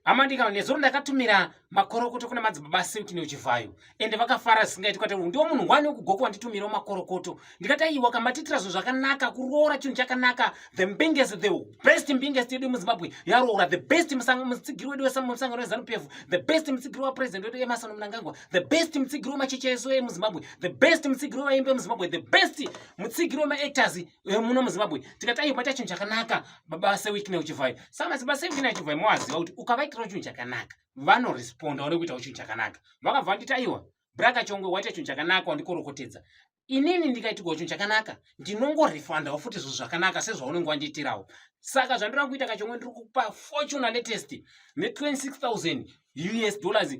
hama ndika nezuro ndakatumira makorokoto kuna madzibaba silk neuchivhayo ende vakafara zvisingaiti kati ndiwo munhu wani wekugoko wanditumirawo makorokoto ndikati aiwa kambatitira zvinhu zvakanaka kuroora chinhu chakanaka the mbingest the best mbingest yedu yemuzimbabwe yaroora the best mutsigiri wedu wemusangano wezanup f the best mutsigiri wapresident wedu emasano munangangwa the best mutsigiri wemacheche esu emuzimbabwe the best mutsigiri wevaimbi emuzimbabwe the best mutsigiri wemaactors Eh, muno muzimbabwe tikati ayi ubaita chinhu chakanaka baba sewikine uchivhai sa madzibaba sewikine achivhai moaziva kuti ukavaitirawo chinhu chakanaka vanoresponda wari kuitawo chinhu chakanaka vakabva vanditi aiwa braka chongwe waita chinhu chakanaka wandikorokotedza inini ndikaitirwa chinhu chakanaka ndinongorefandawo futi zvinhu zvakanaka sezvaunenge wandiitirawo saka zvandinoda kuita kachongwe ndiri kupa fortuna latest ne 26000 us dollars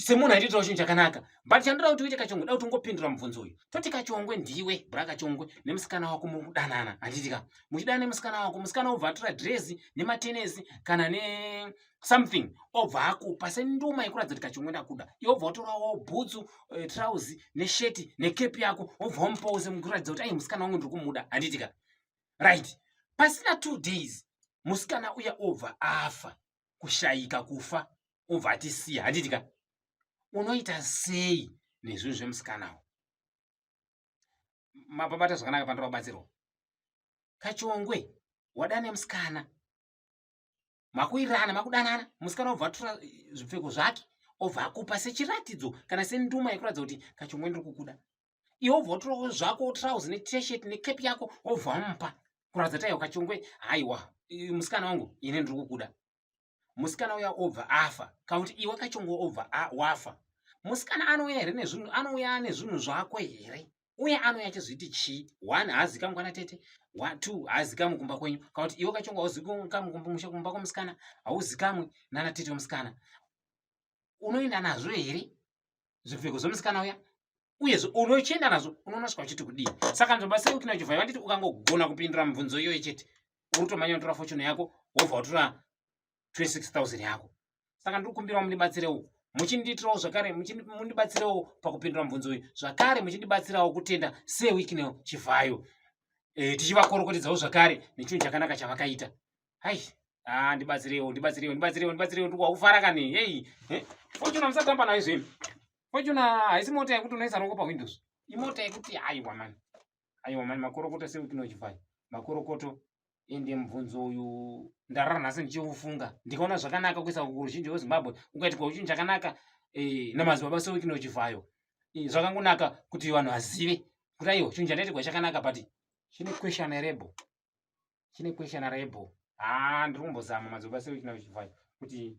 semunhu aitoitawo chinhu chakanaka but chandoda kuti uite kachongwe da kuti ungopindura mubvunzo uyu toti kachongwe ndiwe bra kachongwe nemusikana wako mudanana handiti ka muchidana nemusikana wako musikana obva atora dresi nematenesi kana ne something obva akupa senduma yekuratidza kuti kachongwe ndakuda iwe obva watorawo bhutsu uh, eh, trousi nesheti nekepi yako obva wamupawo semukuratidza kuti ai musikana wangu ndiri kumuda handiti ka right pasina two days musikana uya obva afa kushayika kufa obva atisiya handiti ka unoita sei nezvinhu zvemusikanawo mapabata zvakanaka pandoda kubatsirwa kachongwe wadana nemusikana makuirana makudanana musikana obva atura zvipfeko zvake obva akupa sechiratidzo kana senduma yekuratidza kuti kachongwe ndiri kukuda iwe ubva utoroko zvako utrouse neteshet necap yako wobva wamupa kuratidza taiwa kachongwe haiwa musikana wangu ine ndiri kukuda musikana uya obva afa kana kuti iwe kachongwe obva wafa musikana anouya here nezvinhu anouya nezvinhu zvako here uye anouya achizviti chii one haazikamwa kwana tete two haazikamwi kumba kwenyu kana kuti iwe kachongwe hauzikamwi kumba kwemusikana hauzikamwi nana tete wemusikana unoenda nazvo here zvipfeko zvomusikana uya uyezve unochienda nazvo unonosvika uchiti kudii saka nzomba sei ukina uchivhai vanditi ukangogona kupindura mibvunzo iyoyo chete uri kutomanya unotora fochuni yako wobva watora 26000 yako saka ndiri kukumbirawo mundibatsirewo muchindiitirawo zvakare mundibatsirewo pakupindura mibvunzo uyu zvakare muchindibatsirawo kutenda sewiknel chivhayo e, tichivakorokotedzawo zvakare nechinhu chakanaka chavakaita hai ah ndibatsirewo ndibatsirewo ndibatsirewo ndibatsirewo ndikufara kani hey eh? fortuna musatamba nayo izveni fortuna haisi mota yekuti unoisa roko pawindows imota yekuti aiwa mani aiwa mani makorokoto seukinojivai makorokoto ende mubvunzo uyu ndarara nhasi ndichiufunga ndikaona zvakanaka kuisa kuruzhinji rwezimbabwe ukaitikwa uchinhu chakanaka eh, namazibaba seukinojivhayo eh, zvakangonaka kuti vanhu vazive kuti aiwa chinhu chandaitigwa chakanaka but chine question erebo chine question rebho haa ndiri kumbozama madzoba seuchina uchivai kuti